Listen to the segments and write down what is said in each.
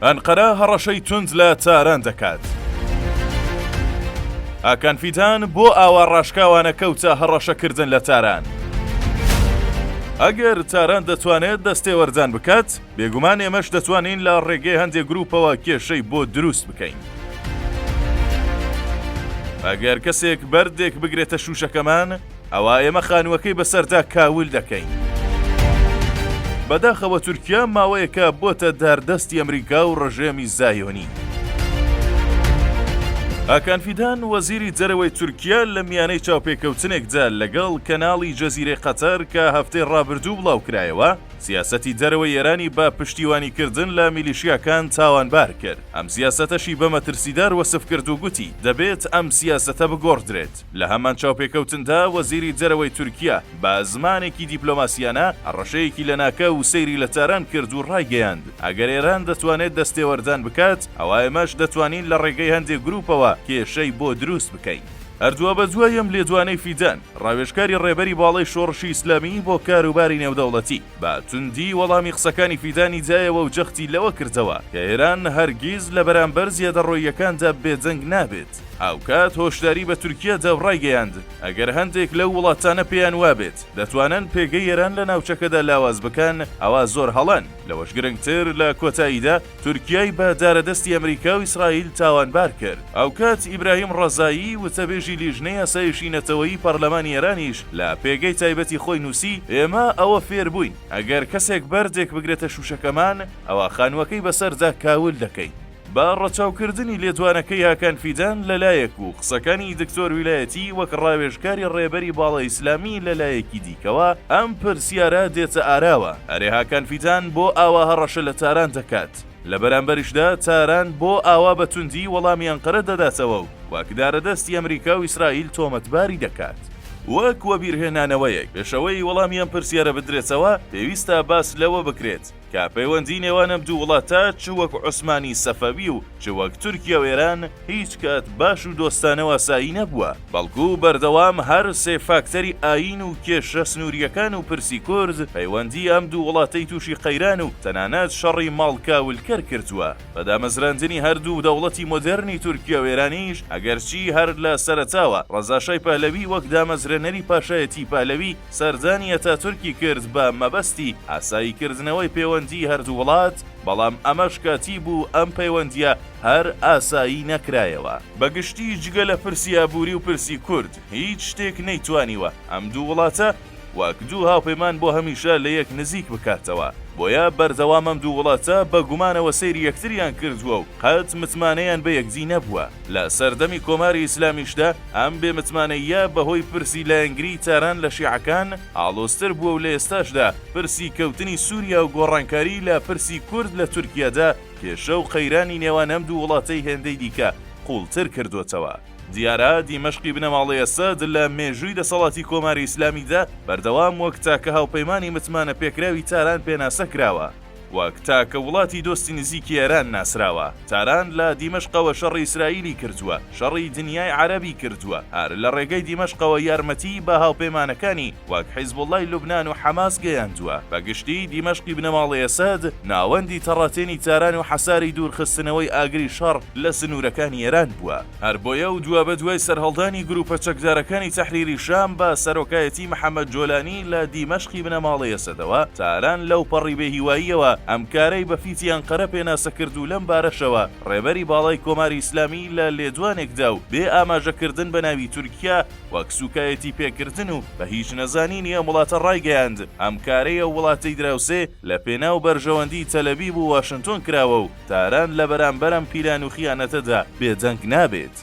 ئەنقەرە هەڕەشەی توند لە تاران دەکات. ئاکان فیدان بۆ ئاوا ڕاشکاوانە کەوتە هەڕەشەکردن لە تاران. ئەگەر تاران دەتوانێت دەستێوەردان بکات، بێگومان ئێمەش دەتوانین لە ڕێگەی هەندێک گروپەوە کێشەی بۆ دروست بکەین. ئەگەر کەسێک بەردێک بگرێتە شووشەکەمان، ئەوا ئێمە خانووەکەی بەسەردا کاول دەکەین. بەداخەوە تورکیا ماوەیەکە بۆتە داردەستی ئەمریکا و ڕژێمی زایۆنی. هاکان فیدان وەزیری دەرەوەی تورکیا لە میانەی چاوپێکەوتنێکدا لەگەڵ کەناڵی جەزیرەی قەتەر کە هەفتەی ڕابردوو بڵاوکرایەوە، سیاسەتی دەرەوەی ئێرانی بە پشتیوانیکردن لە میلیشیاکان تاوانبار کرد، ئەم سیاسەتەشی بە مەترسیدار وەسف کرد و گوتی دەبێت ئەم سیاسەتە بگۆڕدرێت. لە هەمان چاوپێکەوتندا وەزیری دەرەوەی تورکیا بە زمانێکی دیپلۆماسییانە هەڕەشەیەکی لەناکاو و سەیری لە تاران کرد و ڕایگەیاند، ئەگەر ئێران دەتوانێت دەستێوەردان بکات، ئەوا ئێمەش دەتوانین لە ڕێگەی هەندێک گرووپەوە کێشەی بۆ دروست بکەین. هەر دوابەدوای ئەم لێدوانەی فیدان، ڕاوێژکاری ڕێبەری باڵای شۆڕشی ئیسلامیی بۆ کاروباری نێودەوڵەتی، بە توندی وەڵامی قسەکانی فیدانی دایەوە و جەختی لەوە کردەوە کە ئێران هەرگیز لە بەرامبەر زیادەڕۆییەکاندا بێدەنگ نابێت. هاوکات هۆشداری بە تورکیا داو ڕایگەیاند، ئەگەر هەندێک لەو وڵاتانە پێیان وابێت دەتوانن پێگەی ئێران لە ناوچەکەدا لاواز بکەن ئەوا زۆر هەڵەن، لەوەش گرنگتر لە کۆتاییدا تورکیای بە دارەدەستی ئەمریکا و ئیسرائیل تاوانبار کرد. هاوکات ئیبراهیم ڕەزایی، وتەبێژی لیژنەی ئاسایشی نەتەوەیی پەرلەمانی ئێرانیش لە پێگەی تایبەتی خۆی نووسی، ئێمە ئەوە فێر بووین ئەگەر کەسێک بەردێک بگرێتە شووشەکەمان ئەوا خانووەکەی بەسەردا کاول دەکەین. بە ڕەچاوکردنی لێدوانەکەی هاکان فیدان لە لایەک و قسەکانی دکتۆر ویلایەتی وەک ڕاوێژکاری ڕێبەری باڵای ئیسلامی لە لایەکی دیکەوە، ئەم پرسیارە دێتە ئاراوە، ئەرێ هاکان فیدان بۆ ئاوا هەڕەشە لە تاران دەکات؟ لە بەرامبەریشدا تاران بۆ ئاوا بە توندی وەڵامی ئەنقەرە دەداتەوە و وەک دارەدەستی ئەمریکا و ئیسرائیل تۆمەتباری دەکات؟ وەک وەبیرهێنانەوەیەک، پێش ئەوەی وەڵامی ئەم پرسیارە بدرێتەوە، پێویستە باس لەوە بکرێت، کە پەیوەندی نێوان ئەم دوو وڵاتە چ وەک عوسمانی سەفەوی و چ وەک تورکیا و ئێران هیچ کات باش و دۆستانە و ئاسایی نەبووە، بەڵکو بەردەوام هەر سێ فاکتەری ئایین و کێشە سنوورییەکان و پرسی کورد پەیوەندی ئەم دوو وڵاتەی تووشی قەیران و تەنانەت شەڕی ماڵ کاولکەر کردووە. بە دامەزراندنی هەر دوو دەوڵەتی مۆدێرنی تورکیا و ئێرانیش ئەگەرچی هەر لە سەرەتاوە ڕەزاشای پەهلەوی وەک دامەزرێنەری پاشایەتیی پەهلەوی سەردانی ئەتاتورکی کرد بە مەبەستی ئاسایی کردنەوەی پێوەندیی هەردوو وڵات، بەڵام ئەمەش کاتی بوو ئەم پەیوەندییە هەر ئاسایی نەکرایەوە. بە گشتی جگە لە پرسی ئابووری و پرسی کورد هیچ شتێک نەیتوانیوە ئەم دوو وڵاتە وەک دوو هاوپەیمان بۆ هەمیشە لە یەک نزیک بکاتەوە، بۆیە بەردەوام ئەم دوو وڵاتە بە گومانەوە سەیری یەکتریان کردووە و قەت متمانەیان بە یەکدی نەبووە. لە سەردەمی کۆماری ئیسلامیشدا ئەم بێ متمانەییە بە هۆی پرسی لایەنگریی تاران لە شیعەکان ئاڵۆزتر بووە و لە ئێستاشدا پرسی کەوتنی سووریا و گۆڕانکاریی لە پرسی کورد لە تورکیادا کێشە و قەیرانی نێوان ئەم دوو وڵاتەی هێندەی دیکە قووڵتر کردووەتەوە. دیارە دیمەشقی بنەماڵەی ئەسەد لە مێژووی دەسەڵاتی کۆماری ئیسلامیدا بەردەوام وەک تاکە هاوپەیمانی متمانەپێکراوی تاران پێناسە کراوە، وەک تاکە وڵاتی دۆستی نزیکی ئێران ناسراوە، تاران لە دیمەشقەوە شەڕی ئیسرائیلی کردووە، شەڕی دنیای عەرەبی کردووە، هەر لە ڕێگەی دیمەشقەوە یارمەتیی بە هاوپەیمانەکانی وەک حیزبوڵڵای لوبنان و حەماس گەیاندووە، بە گشتی دیمەشقی بنەماڵەی ئەسەد ناوەندی تەڕاتێنی تاران و حەساری دوورخستنەوەی ئاگری شەڕ لە سنوورەکانی ئێران بووە. هەر بۆیە ئەو دوابەدوای سەرهەڵدانی گرووپە چەکدارەکانی تەحریری شام بە سەرۆکایەتی محەمەد جۆلانی لە دیمەشقی بنەماڵەی ئەسەدەوە، تاران لەوپەڕی بێهیواییەوە ئەم کارەی بە فیتی ئەنقەرە پێناسە کرد و لەم بارەشەوە ڕێبەری باڵای کۆماری ئیسلامی لە لێدوانێکدا و بێ ئاماژە کردن بە ناوی تورکیا وەک سووکایەتی پێکردن و بە هیچ نەزانینی ئەم وڵاتە ڕایگەیاند ئەم کارەی ئەو وڵاتەی دراوسێ لە پێناو بەرژەوەندیی تەلەبیب و واشنتۆن کراوە و تاران لە بەرامبەر ئەم پیلان و خیانەتەدا بێدەنگ نابێت.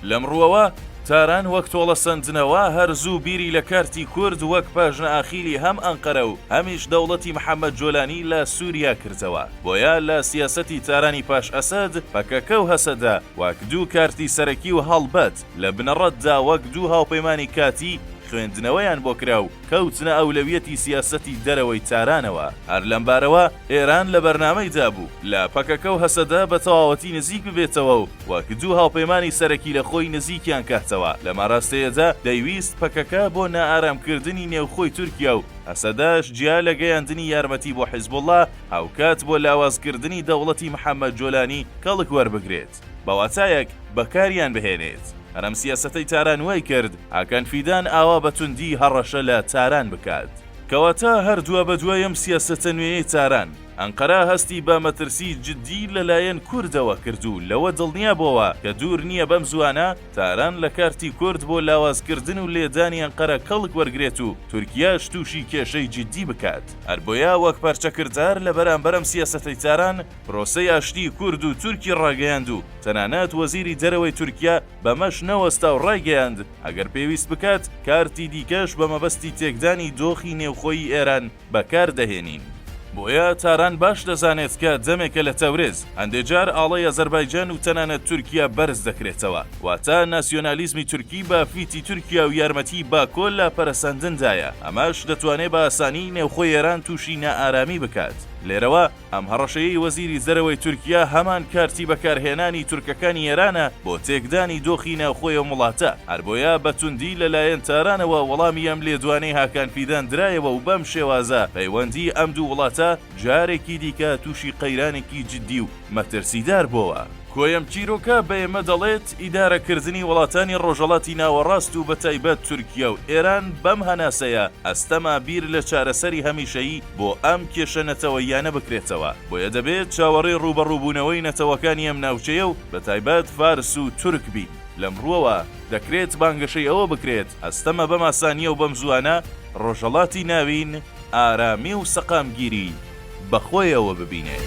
لەم ڕووەوە، تاران وەک تۆڵەسەندنەوە، هەر زوو بیری لە کارتی کورد وەک پاژنە ئاخیلی هەم ئەنقەرە و هەمیش دەوڵەتی محەمەد جۆلانی لە سووریا کردەوە. بۆیە لە سیاسەتی تارانی پاش ئەسەد، پەکەکە و هەسەدە وەک دوو کارتی سەرەکی و هەڵبەت لە بنەڕەتدا وەک دوو هاوپەیمانی کاتی خوێندنەوەیان بۆ کرا و کەوتنە ئەولەویەتی سیاسەتی دەرەوەی تارانەوە. هەر لەم بارەوە، ئێران لە بەرنامەی دا بوو لە پەکەکە و هەسەدە بە تەواوەتی نزیک ببێتەوە و وەک دوو هاوپەیمانی سەرەکی لە خۆی نزیکیان کهتهوه، لەم ئاراستەیە دا دەیویست پەکەکە بۆ نائارام کردنی نێوخۆی تورکیا و هەسەدەش جیا لە گەیاندنی یارمەتی بۆ حیزبوڵڵا هاوکات بۆ لاواز کردنی دەوڵەتی محەمەد جۆلانی کەڵک وەربگرێت بە واتایەک بەکاریان بهێنێت. هەر ئەم سیاسەتەی تاران وای کرد هاکان فیدان ئاوا بە توندی هەڕەشە لە تاران بکات. کەواتە هەر دوابەدوای ئەم سیاسەتە نوێیەی تاران، ئەنقەرە هەستی بە مەترسی جددی لەلایەن کوردەوە کرد و لەوە دڵنیا بۆوە کە دوور نییە بەم زووانە تاران لە کارتی کورد بۆ لاوازکردن و لێدانی ئەنقەرە کەڵک وەرگرێت و تورکیاش تووشی کێشەی جددی بکات. هەر بۆیە وەک پەرچەکردار لە بەرامبەر ئەم سیاسەتەی تاران، پرۆسەی ئاشتیی کورد و تورکی ڕاگەیاند و تەنانەت وەزیری دەرەوەی تورکیا بەمەش نەوەستا و ڕایگەیاند، ئەگەر پێویست بکات کارتی دیکەش بە مەبەستی تێکدانی دۆخی نێوخۆی ئێران بەکار دەهێنین. بۆیە تاران باش دەزانێت کە دەمێکە لە تەورێز هەندێ جار ئاڵای ئەزەربایجان و تەنانەت تورکیا بەرز دەکرێتەوە، واتە ناسیۆنالیزمی تورکی بە فیتی تورکیا و یارمەتیی باکۆ لە پەرەسەندندایە، ئەمەش دەتوانێ بە ئاسانی نێوخۆی ئێران تووشی نائارامی بکات. لێرەوە. ئەم هەڕەشەیەی وەزیری دەرەوەی تورکیا هەمان کارتی بەکارهێنانی تورکەکانی ئێرانە بۆ تێکدانی دۆخی ناوخۆی ئەم وڵاتە، هەر بۆیە بە توندی لە لایەن تارانەوە وەڵامی ئەم لێدوانەی هاکان فیدان درایەوە و بەم شێوازە پەیوەندی ئەم دوو وڵاتە جارێکی دیکە تووشی قەیرانێکی جددی و مەترسیدار بۆوە. کۆی ئەم چیرۆکە بە ئێمە دەڵێت ئیدارەکردنی وڵاتانی ڕۆژەڵاتی ناوەڕاست و بەتایبەت تورکیا و ئێران بەم هەناسەیە ئەستەمە بیر لە چارەسەری هەمیشەیی بۆ ئەم کێشە نەتەوەییانە بکرێتەوە بۆیە دەبێت چاوەڕێی ڕووبەڕووبوونەوەی نەتەوەکانی ئەم ناوچەیە و بەتایبەت فارس و تورک بین. لەم ڕووەوە دەکرێت بانگەشەی ئەوە بکرێت ئەستەمە بەم ئاسانییە و بەم زووانە ڕۆژەڵاتی ناوین ئارامی و سەقامگیری بە خۆیەوە ببینێت.